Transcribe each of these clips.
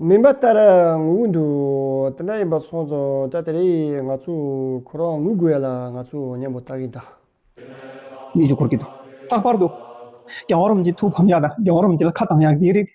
མིན་པ་ལྟར་ངུ་གི་འདུག་དེ་འདྲ་ཡིན་པ་སོང་ཙང་ད་དེ་རིང་ང་ཚོས་ཁོ་རང་ངུ་དགོས་ཡ་ལ་ང་ཚོས་མཉམ་པོ་བལྟ་གིན་གདའ། གནས་ཆུ་འཁོར་གྱི་འདུག་ལྷག་པར་དུ། རྒྱ་གོར་རོམ་གྱི་ཐུགས་ཕམ་ཡག་དང་རྒྱ་གོར་རོམ་གྱི་ལ་ཁ་གདངས་ཡག་འདི་རིགས།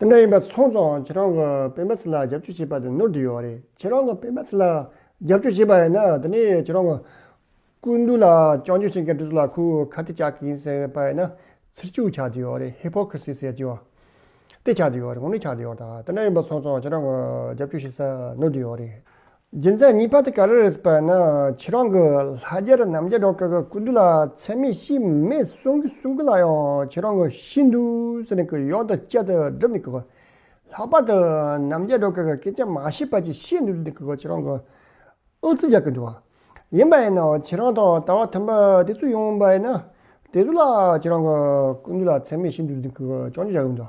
དེ་འདྲ་ཡིན་པ་སོང་ཙང་ཁྱེད་རང་གི་སྤེན་པ་ཚེ་ལ་རྒྱབ་སྐྱོར་བྱེད་པ་དེ་ནོར་འདི་ཡོད་རེད་ཁྱེད་རང་གི་སྤེན་པ་ཚེ་ལ་རྒྱབ་སྐྱོར་བྱེད་པ་ཡིན་ན་དེ་ནས་ཁྱེད་རང་གི་སྐུ་མདུན་ལ་བཅང་བརྗོད་བྱེད་མཁན་དེ་ཚོ་ལ་ཁུ་ཁ་ཏི་བཅག་གི་ཡིན་ཟེར་པ་ཡིན་ན་ཚིག་སྐྱུག་ཆགས་འདི་ཡོད་རེད Hypocrisy ཟེར་གྱི་ཡོད་དེ་ཆགས་འདི་ཡོད་རེད་ངོ་གནོད་ཆགས་འདི་ཡོད་རེད་དེ་འདྲ་ཡིན་པ་སོང་ཙང་ཁྱེད་རང་གི་རྒྱབ་སྐྱོར་བྱེད་ས་ནོར་འདི་ཡོད་རེད། རྒྱུ་མཚན་གཉིས་པ་དེ་ག་རེ་རེད་ཟེར་བ་ཡིན་ན་ཁྱེད་རང་གི་ལྷ་རྒྱལ་ར་རྣམ་རྒྱལ་འགྲོ་དཀའ་དཀའ་སྐུ་འདུག་ལ་ཚད་མེད་ཤི་མེད་གསུང་གི་གསུང་གི་ལ་ཡང་ཁྱེད་རང་གི་ཤི་འདུག་ཟེར་ནས་གི་ཡོང་དུ་བསྐྱལ་དུ་སྒྲུབ་ནས་གི་གོ། ལྷག་པར་དུ་རྣམ་རྒྱལ་འགྲོ་དཀའ་དཀའ་སྐད་ཆ་མ་བཤད་པ་ཅིག་བཤད་འདུག་ཟེར་ནས་གི་གོ་ཁྱེད་རང་གི་ཨུ་ཚུགས་རྒྱག་གི་འདུག་ཡིན་པ་ཡིན་ན་ཁྱེད་རང་དང་ལྟ་བ་མཐུན་པ་དེ་ཚོ་ཡོང་བ་ཡིན་ན་དེ་ཚོ་ལ་ཁྱེད་རང་གི་སྐུ་འདུག་ལ་ཚད་མེད་ཤི་འདུག་ཟེར་ནས་གི་གོ་སྐྱོང་བརྗོད་བྱ་ཡོང་དུ།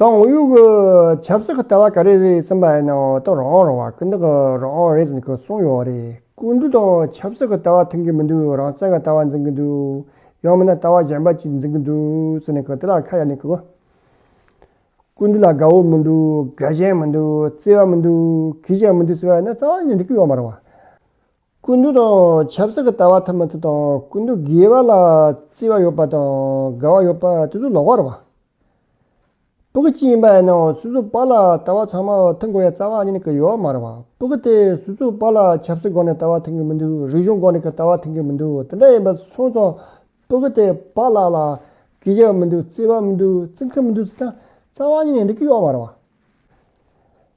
ཏང་ཨུའི་ཆབ་སྲིད་ཀྱི་ལྟ་བ་ག་རེ་རེད་གསུངས་པའི་ནང་ཏང་རང་དབང་རང་བ་སྐུལ་འདེད་རང་དབང་རེད་ཅེས་གསུངས་ཡོད་རེད། ཀུན་བཏུས་དང་ཆབ་སྲིད་ཀྱི་ལྟ་བ་མཐུན་གྱི་མི་འདུག་རང་བཙན་གྱི་ལྟ་བ་འཛིན་གྱི་འདུག་ཡང་མིན་ན་ལྟ་བ་གཞན་པ་གཅིག་འཛིན་གྱི་འདུག་ཟེར་ནས་དེ་ལ་ཁ་གཡར་ནས་ཀུན་བཏུས་ལ་དགའ་བོ་མི་འདུག་དགའ་ཞེན་མི་འདུག་བརྩེ་བ་མི་འདུག་གུས་ཞབས་མི་འདུག་ཟེར་བ་ནི་རྩ་བ་ནས་འགྲིག་གི་ཡོད་མ་རེད། ཀུན་དུ་དང་ཆབ་སྲིད་ཀྱི་ལྟ་བ་ཐ་མ་དེ་དང་ཀུན་དུ་དགེ་བ་ལ་བརྩི་བ་ཡོད་པ་དང་དགའ་བ་ཡོད་པ་དེ་ཚོ་ལོག་པར་བ་པོ་གི་སྤྱི་ཡིན་པ་ཡིན་ནའང་སུ་སུ་པ་ལ་ལྟ་བ་ཚང་མ་མཐུན་དགོས་ཡ་རྩ་བ་ཉིད་ཀྱི་ཡོད་མར་བ་པོ་གི་དེ་སུ་སུ་པ་ལ་ཆབ་སྲིད་སྒོ་ནས་ལྟ་བ་མཐུན་གྱི་མི་འདུག་རིག་གཞུང་སྒོ་ནས་ཀྱི་ལྟ་བ་མཐུན་གྱི་མི་འདུག་དེ་འདྲ་ཡིན་པ་སོང་ཙང་པོ་གི་དེ་པ་ལ་ལ་དགེ་བྱ་བ་མི་འདུག་བརྩི་བ་མི་འདུག་བརྩི་མཁན་མི་འདུག་ཚུལ་དང་རྩ་བ་ཉིད་ནས་འགྲིག་གི་ཡོད་མར་བ།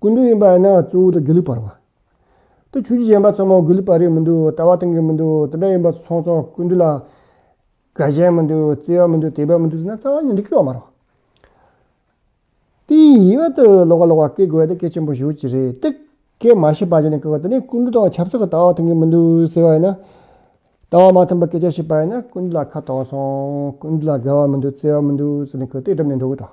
ཀུན་འདུས་ཡིན་པ་ཡིན་ན་གཙོ་བོ་དང་དགེ་ལུགས་པར་བ། དེ་ཆོས་རྒྱུད་གཞན་པ་ཚང་མ་དགེ་ལུགས་པ་རེད་མི་འདུག་ལྟ་བ་དང་གི་མི་འདུག་དེ་འདྲ་ཡིན་པ་ཚང་ཚང་ཀུན་འདུས་ལ་དགའ་ཞེན་མི་འདུག་བརྩེ་བ་མི་འདུག་དད་པ་མི་འདུག་ཟེར་ན་རྩ་བ་ཉིད་འདི་སྐྱོ་བ་མ་རོགས། དེའི་ཡིད་དབང་དུ་ལོག་ག་ལོག་པ་སྐད་དགོས་དེ་སྐད་ཆེན་པོ་ཞུ་ཅི་རེད་དེ། སྐད་མ་ཤེས་པ་ཅན་ནས་སྐད་དེ་ནས་ཀུན་འདུས་དང་ཆབ་སྲིད་ཀྱི་ལྟ་བ་དང་གི་མི་འདུག་ཟེར་བ་ཡིན་ན། ལྟ་བ་མ་མཐུན་པ་སྐད་ཆ་བཤད་པ་ཡིན་ན་ཀུན་འདུས་ལ་ཁ་གཏོང་སོང་ཀུན་འདུས་ལ་དགའ་བ་མི་འདུག་བརྩེ་བ་མི་འདུག་ཟེར་ནས་ཁོས་སྟེགས་གྲམ་ནས་འགྲོ་གི་དང།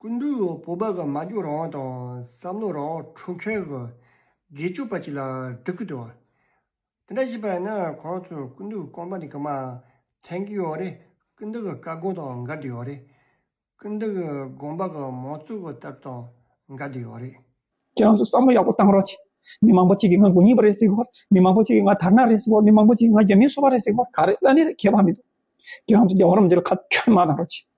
ཀུན་འདུས་བོད་པ་གྱི་སྨྲ་བརྗོད་རང་དབང་དང་བསམ་བློ་རང་དབང་འཕྲོག་མཁན་གྱི་དགེ་སྤྱོད་པ་ཅིག་ལ་འགྲིག་གི་འདུག་དེ་འདྲ་བྱེད་པ་ཡིན་ན་ཁོང་ཚོས་ཀུན་འདུས་རྐང་པ་འདི་ག་མ་འཐེན་གི་ཡོད་རེད་ཀུན་འདུས་ཀྱི་བཀའ་དགོངས་དང་འགལ་འདི་ཡོད་རེད། ཀུན་འདུས་ཀྱི་དགོངས་པ་གྱི་མང་གཙོ་གྱི་ལྟ་གྲུབ་དང་འགལ་འདི་ཡོད་རེད། ཁྱོད་ཚོས་བསམ་བློ་ཡག་པོ་བཏང་རོགས་གྱིས། མི་མང་པོ་གཅིག་གིས་ང་དགུ་གཉིས་པ་རེད་ཟེར་བར། མི་མང་པོ་གཅིག་གིས་ང་དར་ནག་རེད་ཟེར་བར་མི་མང་པོ་གཅིག་གིས་ང་རྒྱ་མིའི་སོ་པ་རེད་ཟེར་བར་ག་རེ་བླ་ནི་རེད་ཁྱད་པར་མི་འདུག། ཁྱོད་ཚོས་རྒྱ་གར་རོམ་འདི་ལ་ཁ་ཁྱོད་མ་གནང་རོགས་གྱིས།